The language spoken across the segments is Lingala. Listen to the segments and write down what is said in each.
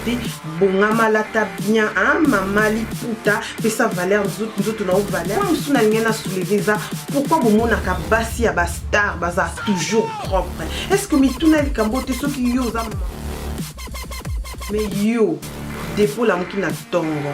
te bongama lata bien hein, mama liputa pesa valeur nzoto na yo valeur mosusu na lingai na souleve eza pourkui bomonaka basi ya bastar baza toujours propre est ce que mituna likambo te soki yo oza mais yo depo lamuki na ntongo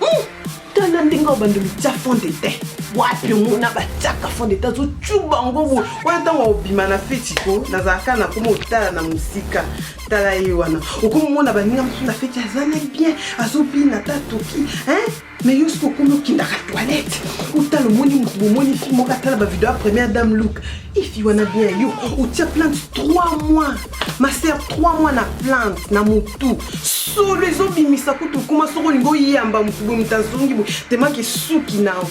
Hmm, tala ndenge oyo bandimi tya fond de teint wapi omona batyaka fond de teint azocuba yango boye wana ntango obima na feti ko nazalaka na koma otala na mosika tala ye wana okomona baninga mosusu na feti aza na bien azobina ta toki me yo soki okomi okendaka toilette otala omoni motu bomoni fi moko atala bavideo ya première dame look ifi wana bien yo otia plante 3 mois ma sœur 3 mois na plante na motu solo ezobimisa kutu okoma soko olingi oyamba motu boye moto azongi boye temaki esuki nao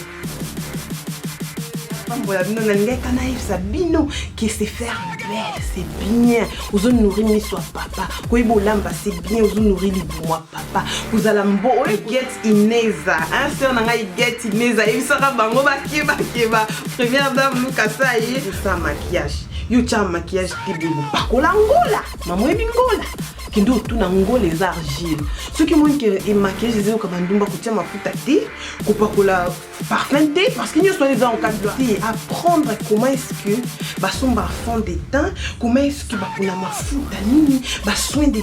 pambola bino nalingaki kana yebisa bino ke se faire belle c'est bien ozo nourri miso ya papa koyeba olamba c'est bien ozo nourri libumu ya papa kozala mbo oyo get ineza hein sœur na ngai get ineza yebisaka bango bakebakeba première dame lukasa ye osa maquillage yo tya maquillage Ebongo pakola ngola mama oyebi ngola kende otuna ngola eza argile soki omoni ke emaquillage eza yoka bandumba kotia mafuta te kopakola parfum te parce que nyonso wana eza encadre te apprendre comment est ce que basomba fond de teint comment est ce que bapona mafuta nini basoin de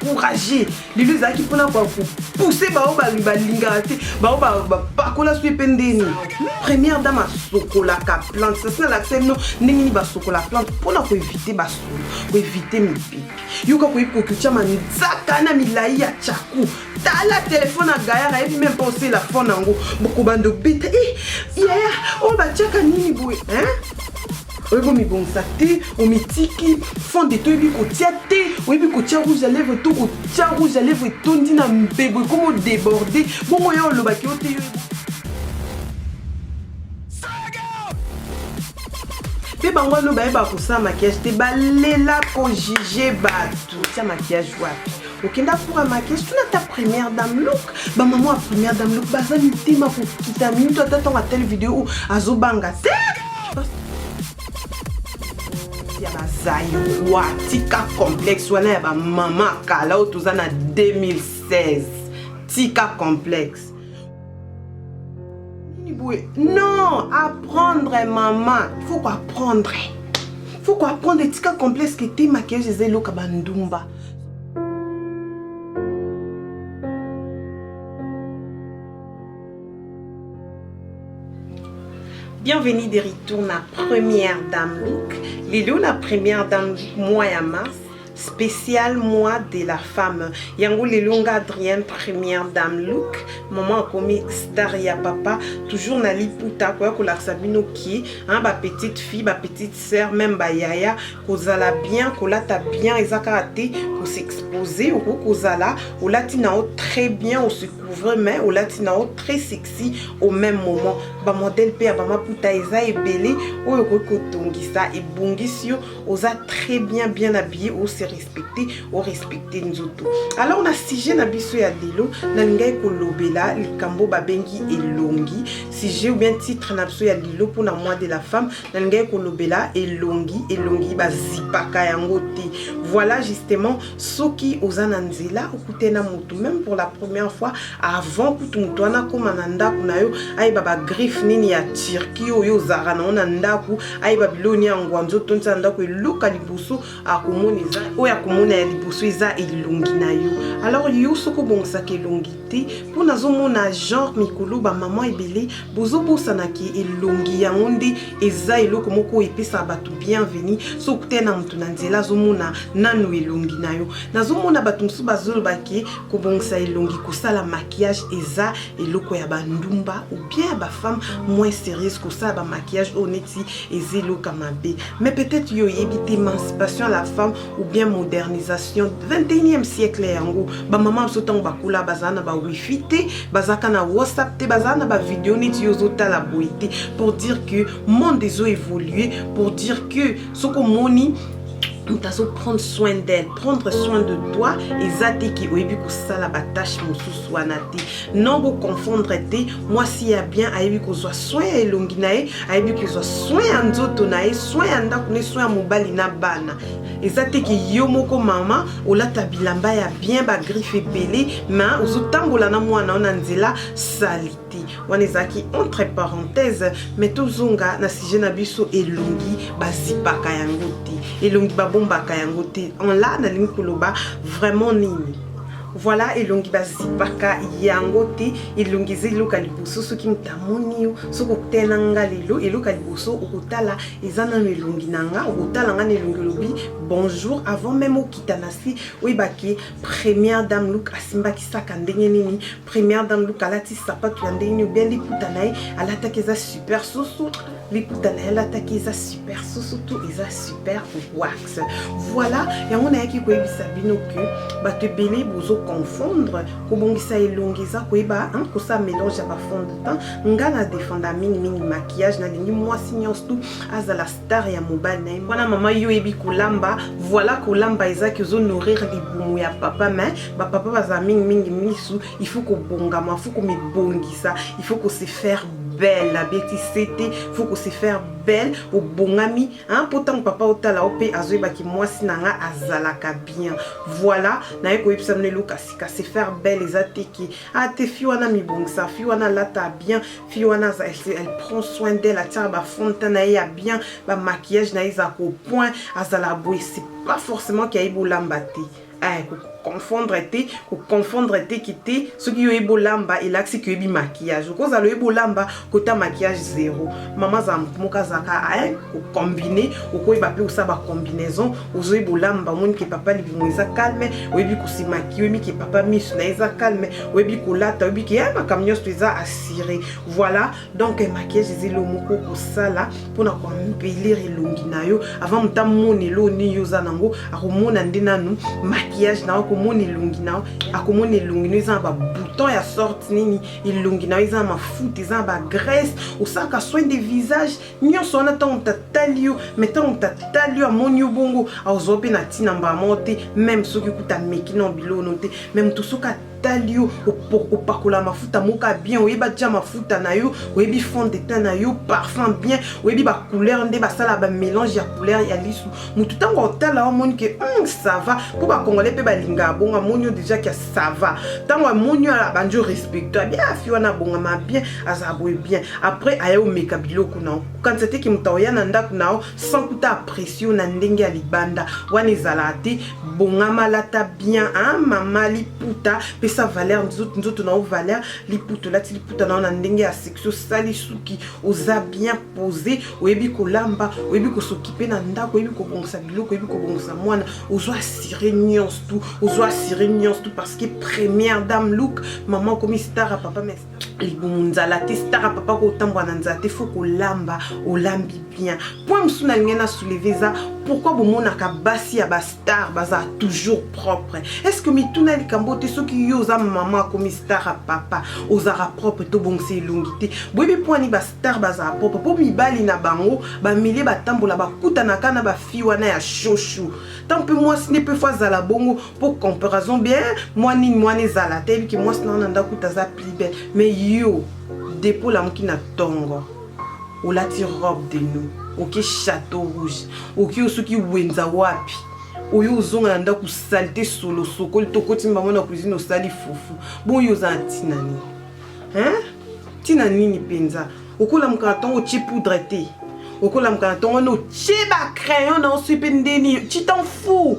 courage lelo ezalaki mpona kwa kopousse bao balingaka te bao bapakola soki mpe ndeni première dame asokolaka plante sasi nalakisa bino ndenge nini basokola plante mpona koevite basolo koevite mipipi yoka koyebi kokitya manzaka na milai ya chaku tala telefone ya gayar ayebi meme mpe osela fone yango bokobanda obeta e eh, yaya oyo batyaka nini boye oyebi omibongisa te omitiki fonde te oyebi kotia te oyebi kotia rouge ya lèvre to kotia rouge ya lèvre etondi na mbebo ekomo deborde bongo ya olobaki yo te yo mpe bango wana bayeba kosala makiyage te balela kojuge bato tia makiyage wapi okenda cour ya makiage tuna ata première dame look bamama ya première dame look baza mitema kokita minutu ata ntango atali video oyo azobanga te ya bazairwa tika complexe wana ya bamama kala oyo toza na 2016 tika complexe Non, apprendre maman. Il faut apprendre. Il faut apprendre les tika complexe que t'es maquillage des loka bandumba. Bienvenue de retour na première dame look. Lelo na première dame mois ya mars. special mois de la femme yango lelo nga adrienne première dame look maman akomi star ya papa toujours na liputa koya kolakisa bino ki hein, ba petite fille ba petite sœur même bayaya kozala bien kolata bien eza kaka te kosexpose okoki kozala olati na yo très bien ose couvre mais olati na yo très sexy au même moment bamodele mpe ya bamaputa eza ebele oyo okoki kotongisa ebongisi yo oza très bien bien habillé ose respecte orespecte nzoto alors na sujet na biso ya lelo nalingaki kolobela likambo babengi elongi sujet ou bien titre na biso ya lelo mpona mois de la femme nalingaki kolobela elongi elongi bazipaka yango te voilà justement soki oza na nzela okute na motu meme pour la première fois avant kutu motu wana akóma na ndako na yo ayeba bagriffe nini ya turquie oyo ozalaka nango na ndako ayeba biloko nini ya ngwanzo otonisa na ndako eloka liboso akomona eza oyo akomona ya liboso eza elongi na yo alors yo soki obongisaka elongi te po nazomona genre mikolo ba maman ebele bozobosana ke elongi yango nde eza eloko moko oyo epesaka batu bienvenu soki okutani na mutu na nzela azomona nanu elongi na yo nazomona batu mosusu bazoloba ke kobongisa elongi kosala maquillage eza eloko ya ba ndumba ou bien ya ba femme moins serieuse kosala ba maquillage oyo neti eza eloko ya mabe mais peut-etre yo oyebi te emancipation ya la femme ou bien modernisation 21e siècle yango bamama mosusu ntango bakola bazala na bawifi te bazalaka na whatsapp te bazala na bavideo neti yo ozotala boye te pour dire que monde ezo évolue pour dire que soki omoni moto azoprendre soin d'elle prendre soin de toi eza te ki oyebi kosala batâche mosusu wana te non bo confondre te mwasi ya bien ayebi kozwa soin ya elongi na ye ayebi kozwa soin ya nzoto na ye soin ya ndako ne soin ya mobali na bana eza te ke yo moko mama olata bilamba ya bien bagriffe ebele ma ozotambola na mwana ona nzela salite wana ezalaki entre parenthèse me tozonga na sujet na biso elongi bazipaka yango te elongi babombaka yango te en la nalingi koloba vraiment nini Voilà elongi bazipaka yango te elongi eza eloko ya liboso soki moto amoni yo soki okotela nga lelo eloko ya liboso okotala eza nano elongi na nga okotala nga na elongi olobi bonjour avant meme okita na si oyebaki première dame luk asimbaki saka ndenge nini première dame luk alati sapato ya ndenge nini obia liputa na ye alataki eza super susu liputa na ye alataki eza super susu tu eza super wa voilà yango nayaki koyebisa bino ke bato ebele bozo confondre kobongisa elongi eza koyeba kosala mélange ya bafond de temps ngai na defenda mingimingi maquillage nalingi mwasi nyonso tu azala star ya mobali na ye wana mama yo oyebi kolamba voilà kolamba ezaki ozo nourrir libumu ya papa mais bapapa bazala mingimingi misu il faut kobongama il faut komibongisa il faut kose faire belle abeti sete faut kose faire belle obongami Hein, mpo ntango papa otala yo mpe azoyeba ki mwasi na nga azalaka bien voilà naye koyebisa bino eloka sika se faire belle eza te ki a ah, te fi wana mibongisa fi wana alata bien fi wana elle prend soin d'elle atiaka bafonte na ye ya bien bamaquillage na ye eza kopoint azala boye c'est pas forcément ki ayebi olamba te Ay, ko confondre te, ko confondre te ki te, soki yo yebi olamba, elakisi ki yebi maquillage. Ko zalo yebi olamba, kota maquillage zero. Mama za mutu moka zaka, ay, ko combiner, oko yeba pe osa ba combinaison, ozo yebi olamba, moni ke papa libumu eza calme, oyebi ko si maquiller, oyebi ke papa misu na eza calme, oyebi kolata, oyebi ke, ay, makambo nionso eza assurer. Voilà. donc eh, maquillage eza eloko moko okosala mpona koambelir elongi na yo avant moto amona eloko nini yo oza nango akomona nde nanu maquillage na yo akomona elongi na yo akomona elongi na yo eza na babouton ya sorte nini elongi na yo eza na mafuta eza na bagrèce osalaka soin de visage nyonso wana ntango moto atali yo mai ntango moto atali yo amoni yo bongo akozwa mpe na ntina mbala moko te meme soki kuta ameki na biloko no te mai moto soki tali yo opakola mafuta moka bien oyebi atya mafuta na yo oyebi fond de teint na yo parfum bien oyebi bacouleur nde basala bamélange ya couleur ya lisu motu ntango otala omoni ke mm, sava mpo bacongolais mpe balingaka bongo amoni yo déjà ke sava ntango amoni yo abandi orespecto abia ah, afi wana abongama bien azala boye bien après aye omeka biloko na yo kanisa te ke moto aoya na ndako na yo sans kuta apprécie yo na ndenge ya libanda wana ezalaka te bongama lata bien hein mama liputa pesa valeur nzoto nzoto na yo valeur liputa olati liputa na yo na ndenge ya sexy osali suki oza bien posé oyebi kolamba oyebi kosokipe na ndako oyebi kobongisa biloko oyebi kobongisa mwana ozwa assuré nyonso tu ozwa assuré nyonso tu parce que première dame look mama okomi star ya papa mais libumu nzala te stara papa kotambola na nzala te fo kolamba olambi bien point mosusu nalingi na souleve eza pourquoi bomonaka basi ya bastar baza toujours propre est ce que mituna likambo te soki yo oza mama akomi star ya papa ozalaka propre tobongisa elongi te boyebi mpwani bastar bazala propre mpo mibali na bango bamilie batambola bakutanaka na bafi wana ya shoshu tant mpe mwasi nde mpe fo azala bongo pour comparaison bien mwa nini mwana ezala te yebiki mwasi na wana ndako kuta aza plus belle mais yo depo olamuki na tongo olati robe de nous oke chateau rouge oke osoki wenza wapi oyo ozonga na ndako salite solo sokoli tokoti mbango na cuisine osali fufu boyo oza na ntina nini ntina nini mpenza okolamuka na ntongo otie poudre te okolamuka na ntongo wana otie bacrayon na osi mpe ndeni citan fou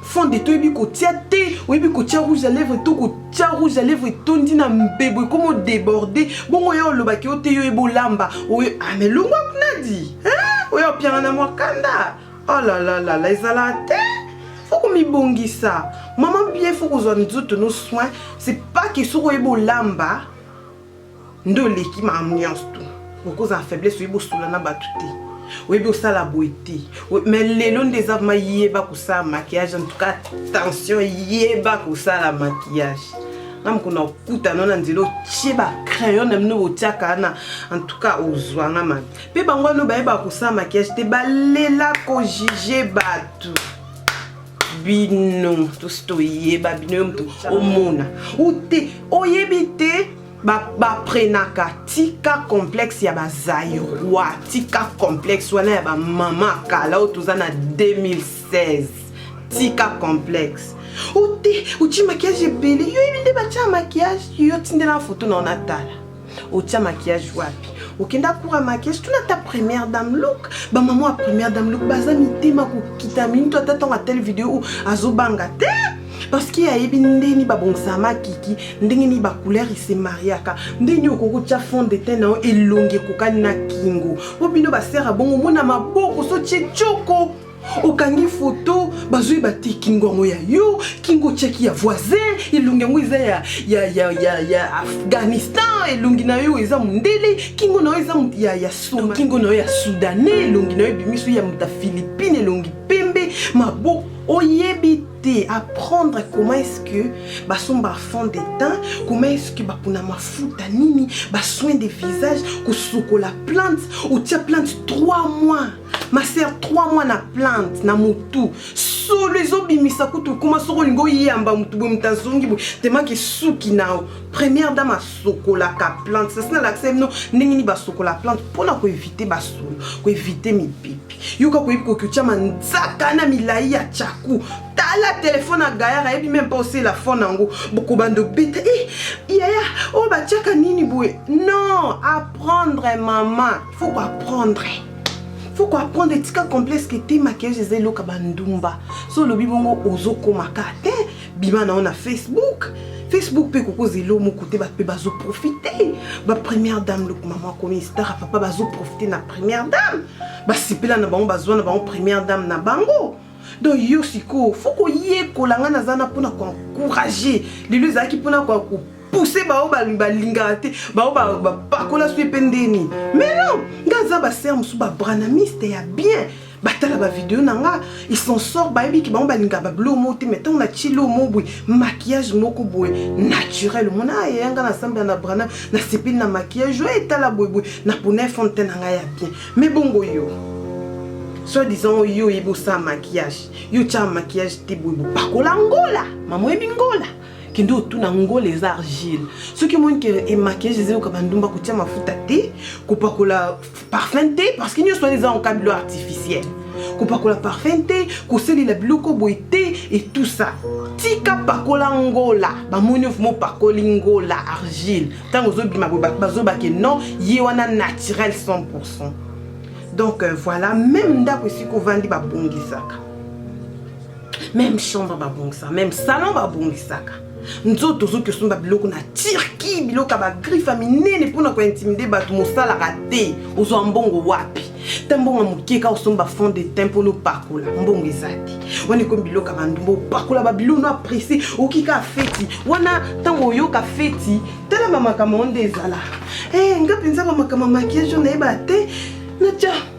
fonde te oyebi kotia te oyebi kotia rouge à lèvre to kotia rouge à lèvre etondi na mbebo ekoma odeborde bongo ya olobaki yo te yo yeba olamba oyo ame ah, longwa kunadi oyo opianga na mwakanda olalalala oh ezala te fo komibongisa mama bien fo kozwa nzoto no soin c'est pas ke soki oyeba olamba nde oleki ma ambiance tu okozala faiblesse oyebi osula na bato te oyebi osala boye te me lelo nde eza vrma yeba kosala maquillage en tout cas tension yeba kosala maquillage na mokona okutana na nzela otie bacrayon na bino botiaka wana en tout cas ozwanga mabe mpe bango wana bayebaka kosala maquillage te balela kojuge bato bino tosi toyeba bino yo moto omona ute oyebi te baprenaka ba tika complexe ya bazairois tika complexe wana ya bamama kala oyo toza na 2016 tika complexe ute otie makiage ebele yo yebi nde batya makiage yo tindela foto na yo natala otia maquillage wapi okenda kura maquillage tuna ata première dame look bamama ya première dame look baza mitema kokita minutu ata ntango atele video oyo azobanga te parce que ayebi ndenge nini babongisa makiki ndenge nini bacouleur ese mariaka ndenge nini okoki kotya fond de tein na yo elongi ekokani na kingo po bino basere abongo omona maboko sotie coko okangi foto bazwi bati kingo yango ya yo kingo cheki ya voisin elongi yango eza ya, ya, ya, ya, ya afghanistan elongi na yo eza mondele kingo na yo eza ya, ya suma kingo na yo ya soudanais elongi na yo ebimiso ya moto ya philippine elongi pembe maboko oyebi te apprendre comment est-ce que basomba fond de teint comment est-ce que bapona mafuta nini basoin de visage kosukola plante otia plante 3 mois ma sœur 3 mois na plante na motu solo ezobimisa kutu okoma soko olingi oyamba motu boye moto azongi boye temaki esuki na yo première dame asokolaka plante sasi nalakisa bino ndenge nini basokola plante mpona koevite basolo koevite mipepe yoka koyebi kokotya manzaka na milai ya chaku tala telefone ya gayar ayebi meme mpa osela fone yango bokobanda obeta e eh, yaya oyo oh, batyaka nini boye non apprendre mama faut koapprendre faut ko apprendre etika complexe que te maquillage eza eloka bandumba so olobi bongo ozokomaka te bima na yo na facebook facebook mpe kokoza elo moko te bato mpe bazoprofite bapremière dame loko mama akomi stara papa bazoprofite na première dame basepela na bango bazwa na bango première dame na bango donc yo sikoyo fo koyekola ngai naza na mpona koencourage lelo ezalaki mpona pousse baoyo balingaka te baoyo bapakola soki mpe ndeni mais non nga aza basere mosusu babranamiste ya bien batala bavideo na nga ils s'en sort bayebiki bango balingaka babilo moko te mai ntango natyi lo moko boye maquillage moko boye naturel omona ah, yaya nga nasambela na brana nasepeli na maquillage oyo etala boye boye napona efond te na ngai ya bien mai bongo yo soit disant oyo yo oyebi osala maquillage yo otyaka maquillage te boye bopakola ngola mama oyebi ngola kende otuna ngola eza argile soki omoni ke emaquillage eza yoka bandumba kotia mafuta te kopakola parfum te parce que nyonso wana eza en kabilo artificiel kopakola parfum te kosalela biloko boye te et tout ça tika pakola ngola bamoni ofuma opakoli ngola argile ntango ozobima bazobake non ye wana naturel 100 pourcent donc euh, voilà même ndako esika ovandi babongisaka meme chambre babongisa meme salon babongisaka nzoto ozoki osomba biloko na turki biloko ya bagriffe ya minene mpona kointimide bato mosalaka te ozwa mbongo wapi ta mbongo moke kaka osomba fond de teint mpona opakola mbongo eza te wana ekomi biloko ya bandumba opakola babilo no apresse okoki kaka feti wana ntango oyoka feti tala bamakambo yango nde ezala e eh, nga mpenza bamakambo makiage oyo nayeba te natya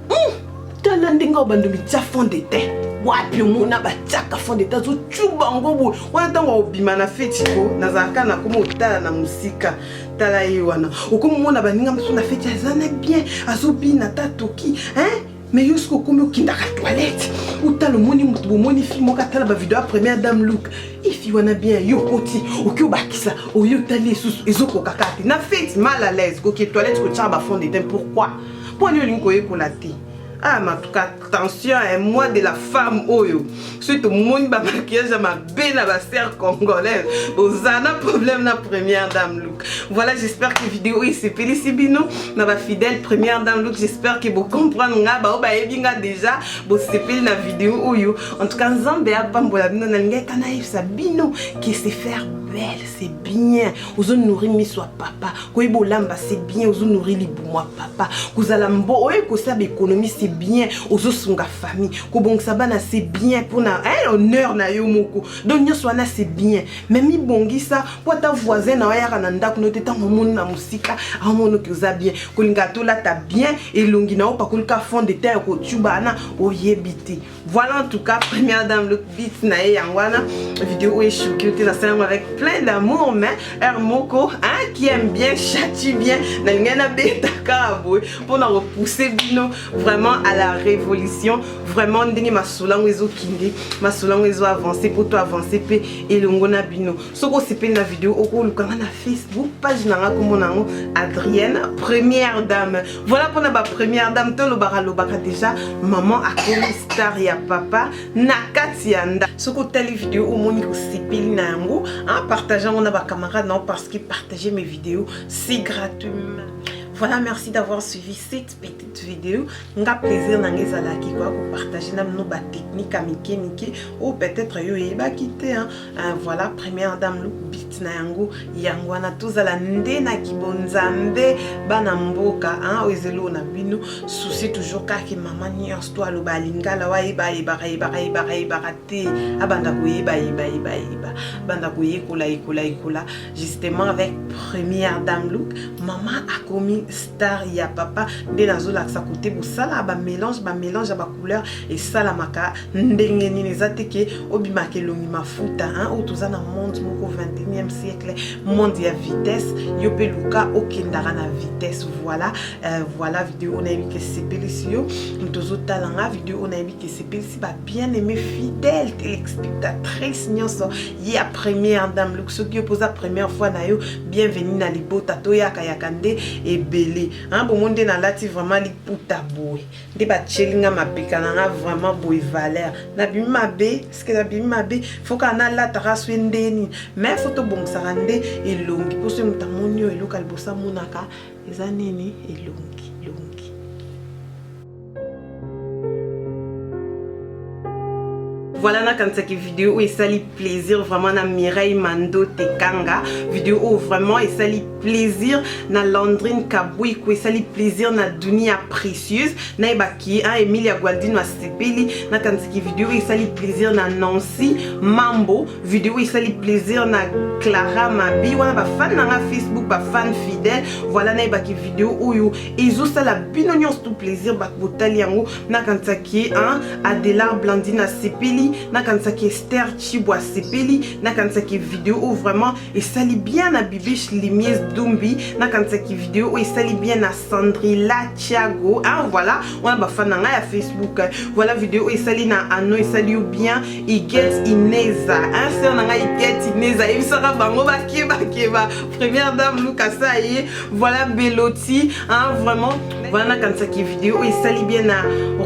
Hmm, tala ndenge oyo bandomi tya fond de teint wapi omona batyaka fond de teint azocuba yango boye wana ntango akobima na feti ko nazalaka na koma otala na mosika tala ye wana okomona baninga mosusu na feti aza na bien azobina ta toki hein me yo soki okomi okendaka toilette otala omoni moto bomoni fi moko atala bavideo ya première dame look ifi wana bien yo okoti oki obakisa oyo otali esusu ezokokaka te na feti mal à l'aise koki toilette kotyaka bafond de teint pourquoi Mpo nini olingi koyekola te? Ah, ma tout cas, tension, un mois de la femme oyo. Suite au monde, ba maquillage à ma belle, à ma sœur congolaise. Ozana problème na première dame look. Voilà, j'espère que vidéo est c'est Pélicibino, na ba fidèle première dame look. J'espère que vous comprenez nga, ba oba ebinga déjà, bo sepeli na vidéo oyo. En tout cas, nzambe a pambola bino na linga kana yebisa bino que c'est faire belle, c'est bien. Ozo nourrir miso papa. koyeba olamba c'est bien ozo nourri libumwa papa kozala mbo oye kosala économie c'est bien ozosunga famille kobongisa bana c'est bien mpona eh, honneur na yo moko donc nyonso wana c'est bien mais mibongisa mpo ata voisin na oyaka na ndako no te ntango omoni na mosika amonoki oza bien kolinga tolata bien elongi na yo pakolika fond de teint ya kotuba wana oyebi te Voilà en tout cas première dame look beat na ye yango wana vidéo oyo echoki yo te nasala yango avec plein d'amour mais heure moko hein, qui aime bien chati bien nalingai nabeta kaka boye mpo na kopousse bino vraiment à la révolution vraiment ndenge masolo yango ezokende masolo yango ezo avance mpo to avance mpe elongo na bino soki osepeli na video okoluka nga na facebook page na nga kombo na yango adrienne première dame voilà mpona ba première dame tolobaka lobaka déjà maman akomi star ya papa na kati ya nda soki otali video omoni osepeli na yango partage yango na bacamarade na yo parce que partager mes vidéos si gratuitement voilà merci d'avoir suivi cette petite vidéo nga plaisir na nga ezalaki koya kopartage na bino batechnique ya mike mike oyo peut-être yo oyebaki te Ah, voilà première dame look bit na yango yango wana tozala nde na kibonzambe bana mboka oyo ezelo na bino souci toujours kaka mama nyonso to aloba alingala wayebayebakayebakayebakayebaka te abanda koyebayebayeba banda koyekola yekola yekola justement avec première dame look mama akomi star ya papa nde nazolakisa kote bosala bamélange bamélange couleur esalamaka ndenge nini eza te ke obimaka elongi mafuta oyo toza na monde moko 21e siècle monde ya vitesse yo mpe luka okendaka na vitesse voilà euh, voilà video oyo nayebi ke esepelisi yo moto ozotala nga video oyo nayebi ke esepelisi ba bien aimé fidèle telespectatrice nyonso ya première dame luk soki yo mpoza première fois na yo bienvenu na libota toyakayaka nde ebele bomoni nde nalati vraiment liputa boye nde batyeli nga mapeka na nga vraiment boye valeur nabimi mabe ske nabimi mabe fo kaka nalataka swe nde nini mai fo tobongisaka nde elongi mpo soki moto amoni oyo eloko ya liboso amonaka eza nini elongi Voilà nakanisaki video oyo esali plaisir vraiment na Mireille Mando Tekanga video oyo vraiment esali plaisir na Landrine Kabuiku esali plaisir na Dunia Précieuse nayebaki hein, Emilia Gualdino asepeli nakanisaki video oyo esali plaisir na Nancy Mambo video oyo esali plaisir na Clara Mabi wana bafani na nga Facebook bafani fidèle voilà nayebaki video oyo ezosala bino nyonso tout plaisir bato botali yango nakanisaki hein, adelar blandine asepeli nakanisaki ester chibo asepeli nakanisaki video oyo vraiment esali bien na bibiche limies dumbi nakanisaki video oyo esali bien na sandrila tiago hein, voilà wana bafana ngai ya facebook voilà video oyo esali na ano esali yo bien iget ineza hein, sœur na ngai iget ineza yebisaka bango bakebakeba première dame lukasa ye voilà beloti hein, vraiment Voilà nakanisaki video oyo esali bien na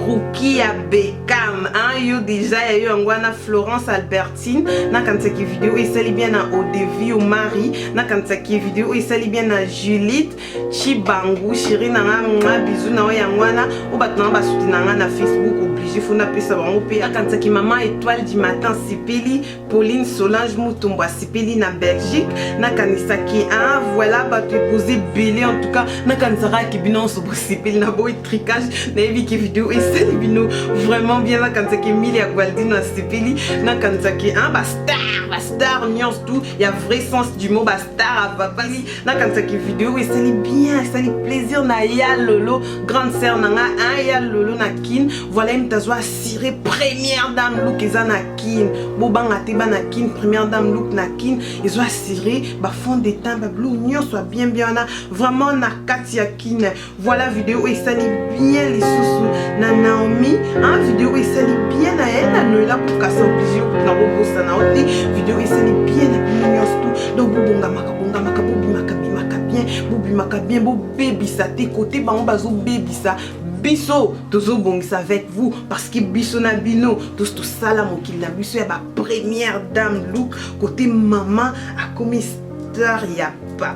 rukia beckham hein, yo deja ya yo yango wana florence albertine nakanisaki video oyo esali bien na odevi omari nakanisaki video oyo esali bien na julite chibangu shiri na nga nga bizu na oyo yango wana oyo bato nanga basuti na nga na facebook oblige fo napesa bango mpe nakanisaki mama etoile du matin sipeli Pauline Solange Mutombo asepeli na Belgique nakanisaki ah voilà bato epose ebele en tout cas nakanisaka ke bino nyonso bosepeli na boyi tricage nayebi ke video esali bino vraiment bien nakanisaki Emilia Gualdino asepeli nakanisaki ah bastar bastar nyonso tout ya vrai sens du mot bastar avapali nakanisaki video esali bien esali plaisir na ya lolo grande sœur na nga ah ya lolo na kin voilà ye moto azwa assure première dame look eza na kin bobanga te bana kin première dame look na kin ezo assuré bafond de temps babilou nyonso ya bien bien wana vraiment na kati ya kin voilà video oyo esali bien lisusu na naomi hein, video oyo esali bien na ye na noela kokasa oblige na kobosana yo te video esali bien na bino nyonso tu donc bobongamaka bongamaka bobimaka bimaka bien bobimaka bien bobebisa te kote bango bazobebisa biso tozobongisa avec vous parce que biso na bino tous tosala mokili na biso ya bapremière dame look kote mama akomi star ya papa